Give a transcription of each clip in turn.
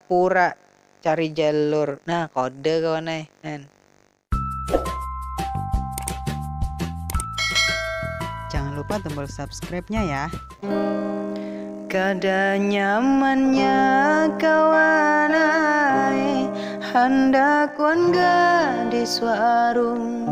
pura cari jalur nah kode kawan ai kan. Jangan lupa tombol subscribe nya ya. Kada nyaman nya kawan ai handak wan gadis warung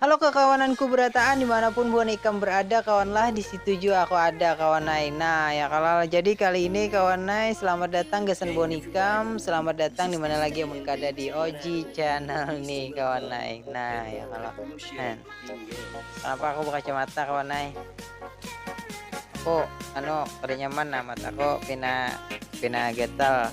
Halo kakawananku berataan dimanapun buhan ikam berada kawanlah disitu jua aku ada kawanai nah ya kalal jadi kali ini kawanai selamat datang gasan buhan ikam selamat datang dimana lagi amun kada di OG channel ni kawanai nah ya kalo nah kenapa aku bekacamata kawanai aku anu kada nyaman nah mataku pina pina gatal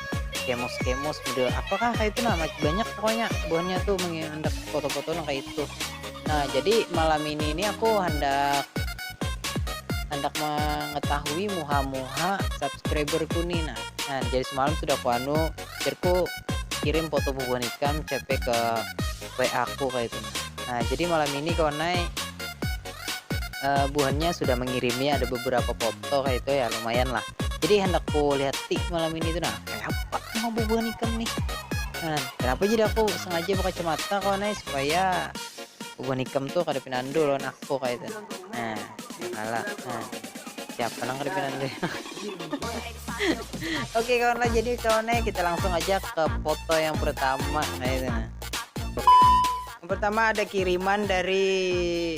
kemos kemos model apakah kayak itu nah banyak pokoknya buahnya tuh menghendak foto-foto nah kayak itu nah jadi malam ini ini aku hendak hendak mengetahui muha-muha subscriberku nih nah nah jadi semalam sudah aku anu cerku kirim foto bubuhan ikan CP ke WA aku kayak itu nah jadi malam ini kawan naik uh, eh, buhannya sudah mengirimi ada beberapa foto kayak itu ya lumayan lah jadi hendak ku lihat tik malam ini tuh nah kayak apa mau bubuhan ikam nih nah, kenapa jadi aku sengaja pakai kacamata kawan nih supaya bubuhan ikam tuh kada pinandu lawan aku kayak itu nah kalah nah siapa nang kada pinandu oke kawan lah jadi kawan nih kita langsung aja ke foto yang pertama kayak itu nah yang pertama ada kiriman dari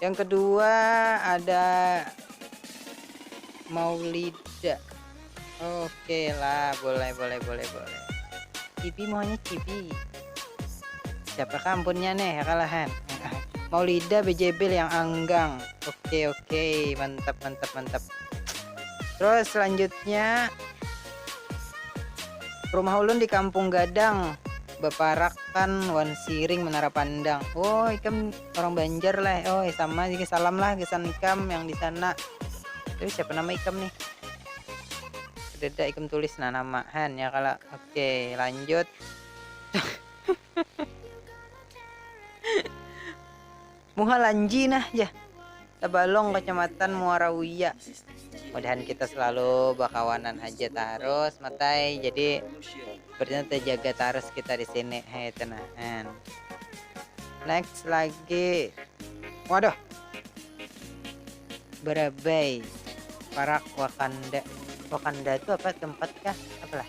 yang kedua ada Maulida oke lah boleh boleh boleh boleh Cibi maunya Cibi siapa kampunnya nih kalahan Maulida BJB yang anggang oke oke mantap mantap mantap terus selanjutnya rumah ulun di kampung gadang baparakan wan siring menara pandang oh ikam orang banjar lah oh sama juga salam lah gasan ikam yang di sana tapi siapa nama ikam nih kadada ikam tulis nah nama han ya kala oke lanjut Muha lanji nah jar tabalong kacamatan muara uya. Mudahan kita selalu bakawanan haja tarus matai jadi sepertinya tejaga tarus kita di sini he itu nah en. Next lagi waduh barabai parak wakanda, wakanda tu apa tempat kah apa lah.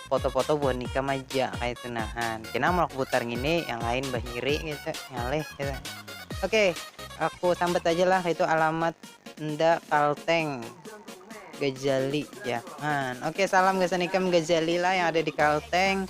foto-foto buhan nikah maja kaitu nahan kena mulak butar ngini yang lain bahiri gitu ngalih gitu oke aku sambat aja lah itu alamat enda kalteng Gajali jangan oke salam gasan ikam Gajali lah yang ada di Kalteng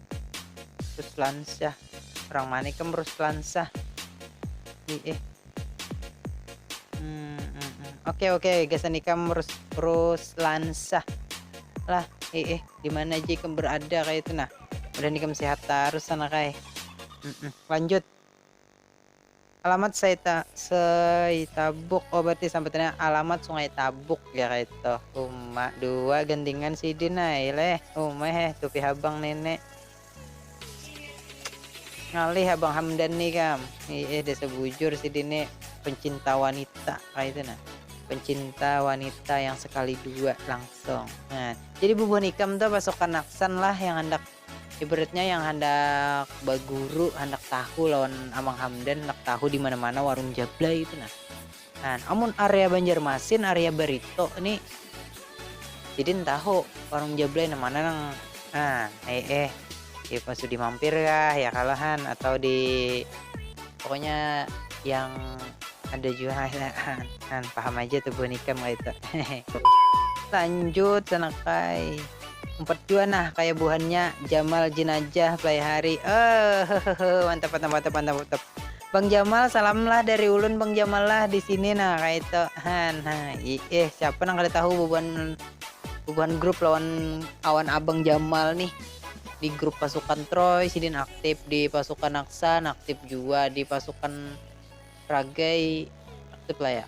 Ruslansyah orang mana ikam Ruslansyah ih eh hmm, hmm, hmm. oke oke gasan ikam Rus Ruslansyah lah eh eh di mana aja ikam berada kayak itu nah udah ikam sehat terus sana kayak hmm, hmm. lanjut Alamat Saita Saitabuk oh berarti sambutannya Alamat Sungai Tabuk jar kaitu uma dua gandingan sidin ai leh uma heh tupi habang nene ngalih abang Hamdan ni kam iih desa bujur sidin ni pencinta wanita kaitu nah pencinta wanita yang sekali dua langsung nah jadi bubuhan ikam tu pasukan Aksan lah yang handak. Ibaratnya yang handak baguru, handak tahu lawan Amang Hamdan, handak tahu di mana-mana warung Jablay itu nah. Nah, amun area Banjarmasin, area Barito ni sidin tahu warung Jablay nang mana nang nah, eh eh di Pasudi mampir kah ya kalahan atau di pokoknya yang ada juga kan paham aja tuh buhan ikam kaitu. Lanjut sanakai. Umpat jua nah kaya buhannya Jamal Jinajah Play Hari ehehehhe mantap mantap mantap mantap mantap Bang Jamal salam lah dari ulun Bang Jamal lah di sini nah kaitu han nah iih siapa nang kada tahu bubuhan bubuhan grup lawan awan abang Jamal nih di grup pasukan Troy sidin aktif di pasukan Aksan aktif jua di pasukan Ragai aktif lah ya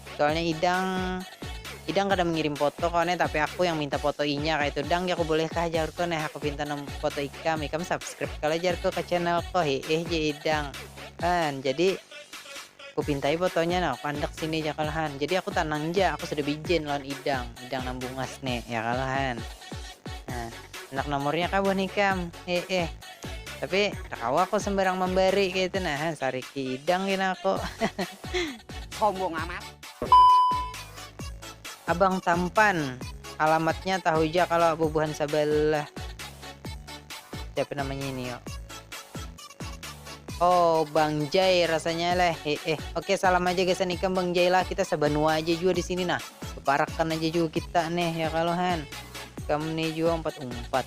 Soalnya idang idang kada mengirim foto kone tapi aku yang minta foto inya kaitu dang jaku bolehkah jarko neh aku pinta nomor foto ikam ikam subscribe kalo jarko ka channel ko hiih jar idang han jadi ku pintai fotonya no pandak sini ja kalo han jadi aku tanang ja aku sudah bijen lawan idang idang nang bungas ne ya kalo han nah handak nomornya kah buhan ikam hiih. Tapi kada kawa aku sembarang mambari kaya itu nah, sariki idang gin aku. Sombong amat. Abang tampan, alamatnya tahu ja kalo bubuhan sabalah. Siapa namanya ini yo. Oh bang jay rasanya leh heeh oke salam aja gasan ikam bang jay lah kita sabanua aja jua di sini nah beparakan aja jua kita nih ya kalohan kamu nih jua empat empat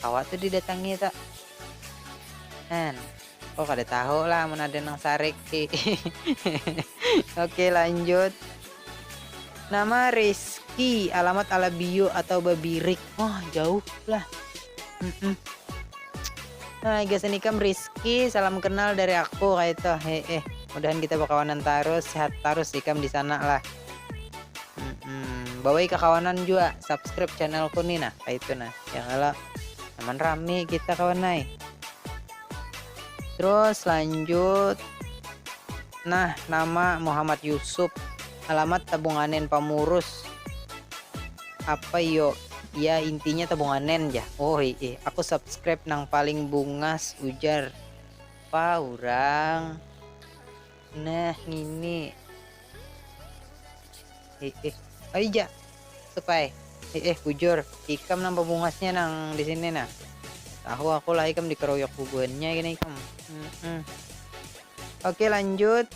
Kawa tu didatangi tu. Hen. Oh kada tahu lah mun ada nang sarik. Oke lanjut. Nama Rizky, alamat Alabiu atau Babirik. Wah, jauh lah. Mm -mm. Nah, gasan ikam Rizky, salam kenal dari aku kayak itu. Heeh. Mudahan kita berkawanan terus, sehat terus ikam di sana lah. hmm, bawai kakawanan juga subscribe channelku nih nah kayak itu nah ya kalau aman rame kita kawan naik terus lanjut nah nama Muhammad Yusuf alamat tabunganen pamurus apa yo ya intinya tabunganen ya oh iya aku subscribe nang paling bungas ujar apa orang Nah ngini. Eh eh. Ayo ja. Supai. Eh eh bujur. Ikam nang pabungasnya nang di sini nah. Tahu aku lah ikam dikeroyok bubuhannya gini ikam. Mm -mm. Oke lanjut.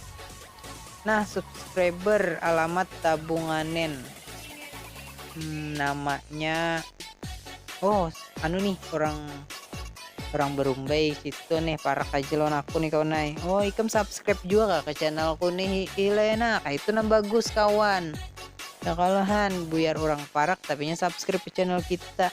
Nah subscriber alamat tabunganen. Hmm, namanya oh anu nih orang Urang barumbai situ nih parak aja lawan aku nih kawan ai. Oh ikam subscribe jua kah ka channelku nih hihi lah ya nah kaitu nah bagus kawan. Ya kalo han, buyar urang parak tapinya subscribe ka channel kita.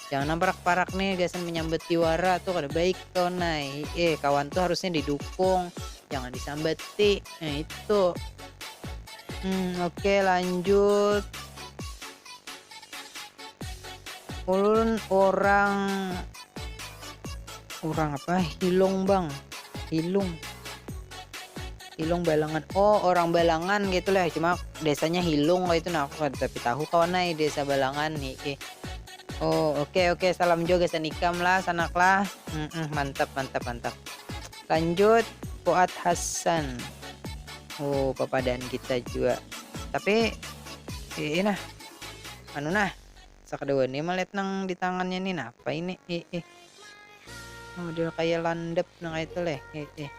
Jangan nang parak-parak nih gasan manyambati wara tuh kada baik kawan ai. Hihi kawan tuh harusnya didukung jangan disambati. Nah itu. Hmm oke lanjut. ulun orang orang apa hilung bang hilung hilung balangan oh orang balangan gitu lah cuma desanya hilung itu nah aku tapi tahu kawan nai desa balangan nih eh. oh oke okay, oke okay. salam juga sanikam lah sanak lah mm -mm, mantap mantap mantap Lanjut Fuad Hassan. Oh, papadaan kita jua. Tapi ii nah. Anu nah. Sakadawa ni melihat nang di tangannya ni napa ini ii. Model kayak landep nang kayak itu leh ii.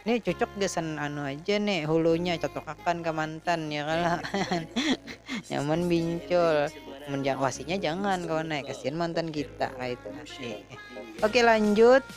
Ini cocok gasan anu aja nih hulunya cocokakan ke mantan ya kalau nyaman bincol menjang wasinya jangan kawan naik kasihan mantan kita itu nah, ii. Oke lanjut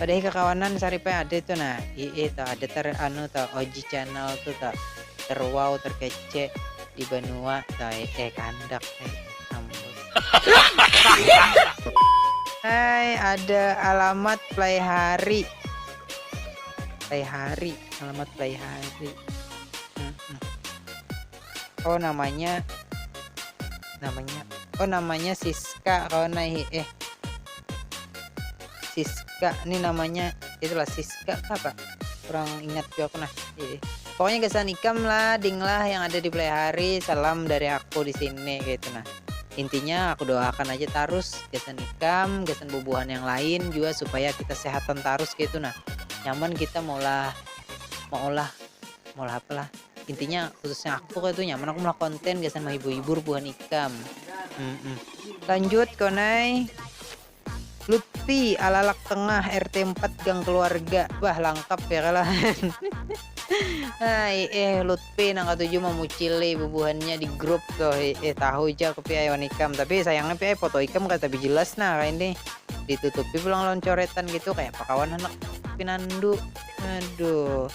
Pada hi kakawanan saripai ada itu nah ie to ada ter anu to OG channel tu to terwow terkece di banua to ee kandak ee ampun. Hai ada alamat play hari play hari alamat play hari. oh namanya namanya oh namanya Siska kawan naik eh Siska ini namanya itulah Siska apa kurang ingat juga aku nah eh. pokoknya kesan ikam lah ding lah yang ada di play hari salam dari aku di sini gitu nah intinya aku doakan aja terus kesan ikam kesan bubuhan yang lain juga supaya kita sehatan terus gitu nah nyaman kita maulah maulah maulah apalah intinya khususnya aku pokoknya tuh nyaman aku melakukan konten gasan menghibur-hibur buhan ikam mm -mm. lanjut konai Lutfi alalak tengah RT 4 gang keluarga bah lengkap ya kalah Hai eh Lutfi nang katujuh memucili bubuhannya di grup tuh eh, eh tahu aja aku piai wan ikam tapi sayangnya piai foto ikam kata tapi jelas nah kayak ini ditutupi pulang lawan coretan gitu kayak pakawan anak pinandu aduh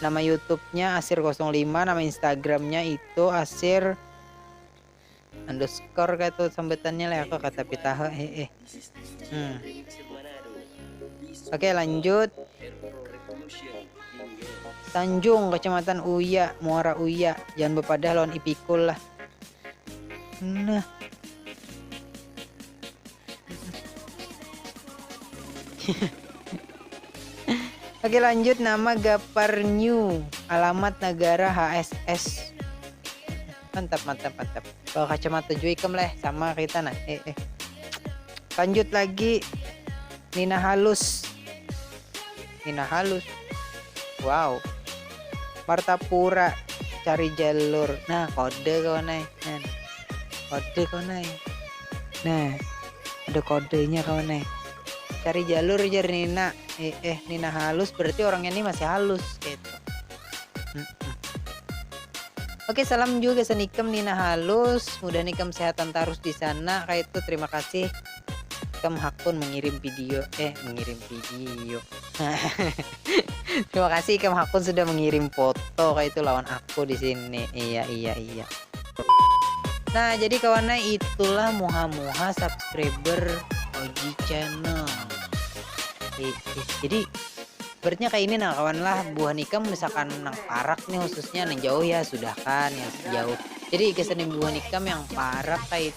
Nama youtube nya asir kosong lima nama instagram nya itu asir underscore kah tu sambatannya leh aku kata tapi taha heeh hmm oke lanjut Tanjung kecamatan uya muara uya jangan bepadah lawan ipikul lah Nah. Oke lanjut nama Gapar New, alamat negara HSS. Mantap mantap mantap. Bawa kacamata juikam leh sama kita nah. Eh eh. Lanjut lagi Nina Halus pina halus waw martapura cari jalur nah kode kawan ai nah kode kawan ai nah ada kodenya kawan ai cari jalur jar nina eh, eh nina halus berarti orangnya ini masih halus gitu Oke, salam juga sanikam Nina Halus. Mudah nikam sehatan terus di sana. Kayak itu terima kasih. Kam hakun mengirim video eh mengirim video. Terima kasih Kam hakun sudah mengirim foto kayak itu lawan aku di sini. Iya iya iya. Nah, jadi kawannya itulah muha-muha subscriber OG channel. Eh, eh, jadi berarti kayak ini nah kawan lah buah nikam misalkan nang parak nih khususnya nang jauh ya sudah kan yang jauh jadi kesan buah nikam yang parak kayak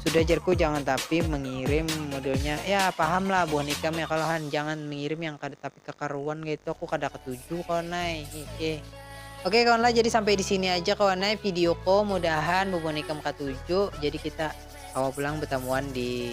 Sudah jarku jangan tapi mengirim modelnya ya paham lah buhan ikam ya kalo han jangan mengirim yang kada tapi kakaruan kaitu aku kada ketuju kawan ai hihi. Oke kawan lah jadi sampai di sini aja kawan ai video ko mudahan bubuhan ikam katuju jadi kita kawa pulang betamuan di